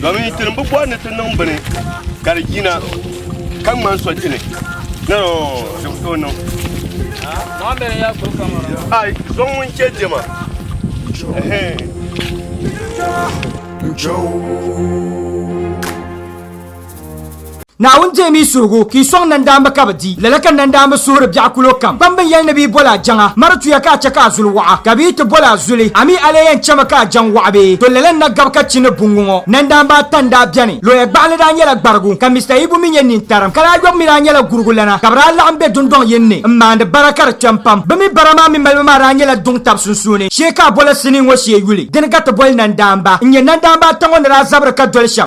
Domin ti ni bi bɔri ni ti niŋ bini ka di yina ka ŋmani sɔchini ni di bi tooi niŋ. Ai, zɔŋ ŋun chɛ diɛma. Ɛhɛn. Naawuni deemi yi suhigu ka yi sɔŋ nandaamba ka bi di. Lala ka nandaamba suhiri biɛɣu kulo kam. Kpam bin yɛli ni bɛ yi boli a jaŋa, mari tuya ka a chɛ ka a zuli waɣa, ka bɛ yi ti boli a zuli, a mi a lee yɛn chɛmi ka a jaŋ waɣa bee? To lala n-na gabi ka chi ni buŋ ŋɔ. Nandaamba ata n-daa beni. Looya gbaɣinli daa nyɛla gbarigu, ka Mista Ibu mi nyɛ nintarim. Kalaayɔbu mi daa nyɛla gurigulana, ka bɛ daa laɣim be dundɔŋ yini ni m-maandi bara ka di kpɛm pam. Bɛ mi bara maa mini malibu maa daa nyɛla duŋ tab sunsuuni shee ka a bola sinii ŋɔ shee yuli. Di ni ka ti boli nandaamba n-nyɛ nandaamba ata ŋɔ ni daa zabiri ka doli shɛm.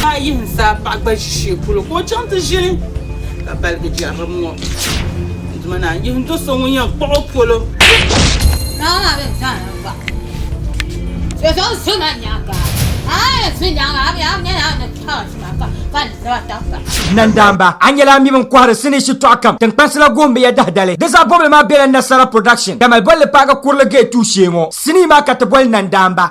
Ka a yihi zaa paɣa gba ʒi shee polo ka o chaŋ ti ʒini ka baligi jɛrilim ŋɔ. N duma naa yihi n do so ŋun yɛn kpuɣi o polo. Nandaamba, a nyɛla a mi bɛ ni kɔhiri sinii shitɔɣu kam tiŋkpansi la goon binyɛr dahidali. Di zaa bɔbili maa bela Nasara Production Tamale Bolli Paagi Kurili Gate Tuushee ŋɔ sinii maa ka ti boli Nandaamba.